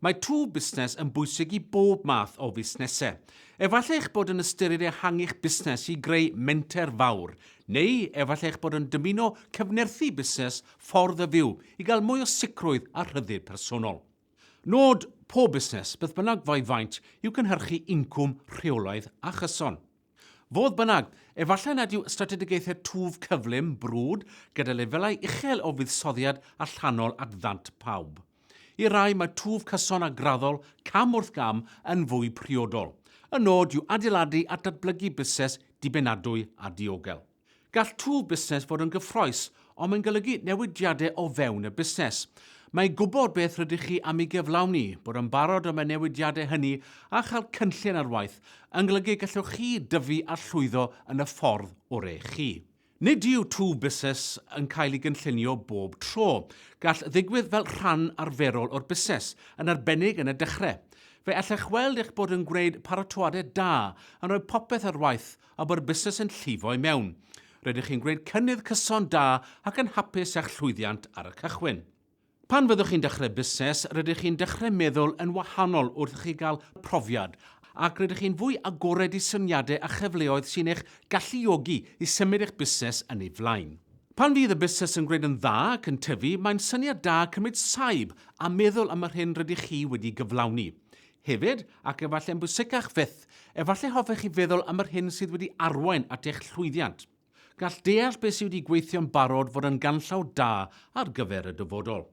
Mae twf busnes yn bwysig i bob math o fusnesau. Efallai eich bod yn ystyried ehangu'ch busnes i greu menter fawr, neu efallai eich bod yn dymuno cyfnerthu busnes Ffordd y Fyw i gael mwy o sicrwydd a rhyddid personol. Nod pob busnes, beth bynnag fo'i faint, yw cynhyrchu incwm rheolaidd a chyson. Fodd bynnag, efallai nad yw strategaethau twf cyflym, brwd, gyda lefelau uchel o fuddsoddiad allanol at ddant pawb. I rai, mae twf cyson a graddol, cam wrth gam, yn fwy priodol. Y nod yw adeiladu at ddatblygu busnes dibynadwy a diogel. Gall twf busnes fod yn gyffrous, ond mae'n golygu newidiadau o fewn y busnes. Mae gwybod beth rydych chi am ei gyflawni, bod yn barod am y newidiadau hynny a chael cynllun ar waith yn golygu y gallwch chi dyfu a llwyddo yn y ffordd oreu chi. Nid yw twf busnes yn cael ei gynllunio bob tro. Gall ddigwydd fel rhan arferol o'r busnes, yn arbennig yn y dechrau. Fe allech weld eich bod yn gwneud paratoadau da, yn rhoi popeth ar waith, a bod y busnes yn llifo i mewn. Rydych chi'n gwneud cynnydd cyson da ac yn hapus â'ch llwyddiant ar y cychwyn. Pan fyddwch chi'n dechrau busnes, rydych chi'n dechrau meddwl yn wahanol wrth i chi gael profiad ac rydych chi'n fwy agored i syniadau a chyfleoedd sy'n eich galluogi i symud eich busnes yn ei flaen. Pan fydd y busnes yn gwneud yn dda ac yn tyfu, mae'n syniad da cymryd saib a meddwl am yr hyn rydych chi wedi gyflawni. Hefyd, ac efallai'n bwysicach fyth, efallai hoffech chi feddwl am yr hyn sydd wedi arwain at eich llwyddiant. Gall deall beth sydd wedi gweithio'n barod fod yn ganllaw da ar gyfer y dyfodol.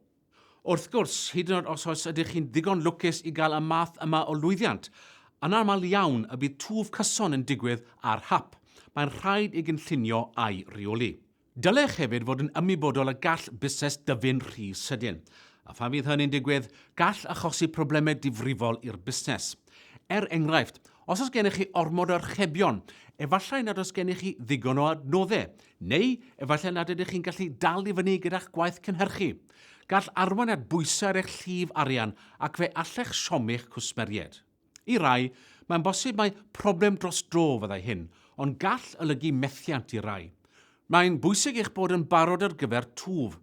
Wrth gwrs, hyd yn oed os oes ydych chi'n ddigon lwcus i gael y math yma o lwyddiant, anaml iawn y bydd twf cyson yn digwydd ar hap, mae'n rhaid ei gynllunio a'i reoli. Dylech hefyd fod yn ymwybodol y gall busnes dyfu'n rhy sydyn, a phan fydd hynny'n digwydd, gall achosi problemau difrifol i'r busnes. Er enghraifft, os oes gennych chi ormod o archebion, efallai nad oes gennych chi ddigon o adnoddau, neu efallai nad ydych chi'n gallu dal i fyny gyda'ch gwaith cynhyrchu. Gall arwain at bwysau ar eich llif arian ac fe allech siomi'ch cwsmeriaid. I rai, mae'n bosib mai problem dros dro fyddai hyn, ond gall olygu methiant i rai. Mae'n bwysig eich bod yn barod ar gyfer twf.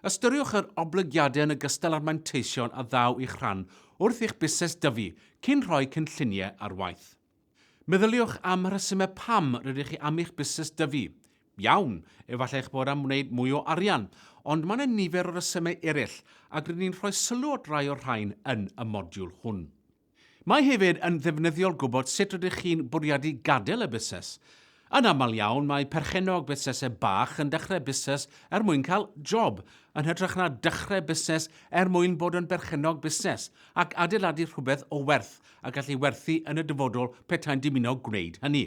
Ystyriwch yr oblygiadau yn ogystal â'r manteision a ddaw i'ch rhan wrth i'ch busnes dyfu cyn rhoi cynlluniau ar waith. Meddyliwch am y rhesymau pam rydych chi am i'ch busnes dyfu. Iawn, efallai eich bod am wneud mwy o arian, ond mae 'na nifer o resymau eraill, ac rydyn ni'n rhoi sylw at rai o'r rhain yn y modiwl hwn. Mae hefyd yn ddefnyddiol gwybod sut rydych chi'n bwriadu gadael y busnes. Yn aml iawn, mae perchennog busnesau bach yn dechrau busnes er mwyn cael job, yn hytrach na dechrau busnes er mwyn bod yn berchennog busnes, ac adeiladu rhywbeth o werth a gallu werthu yn y dyfodol petai'n dymuno gwneud hynny.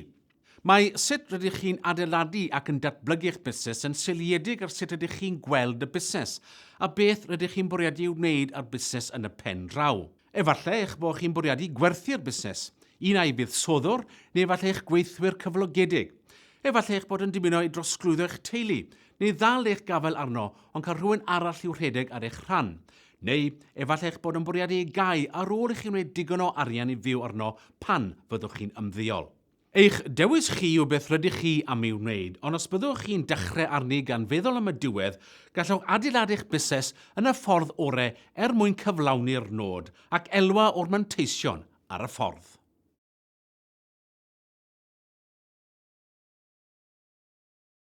Mae sut rydych chi'n adeiladu ac yn datblygu eich busnes yn seiliedig ar sut rydych chi'n gweld y busnes, a beth rydych chi'n bwriadu ei wneud â'r busnes yn y pen draw. Efallai eich bod chi'n bwriadu gwerthu'r busnes, un ai fuddsoddwr neu efallai eich gweithwyr cyflogedig. Efallai eich bod yn dymuno ei drosglwyddo i'ch teulu, neu ddal eich gafael arno ond cael rhywun arall i'w rhedeg ar eich rhan. Neu, efallai eich bod yn bwriadu ei gau ar ôl i chi wneud digon o arian i fyw arno pan fyddwch chi'n ymddeol. Eich dewis chi yw beth rydych chi am ei wneud, ond os byddwch chi'n dechrau arni gan feddwl am y diwedd, gallwch adeiladu eich busnes yn y ffordd orau er mwyn cyflawni'r nod ac elwa o'r manteision ar y ffordd.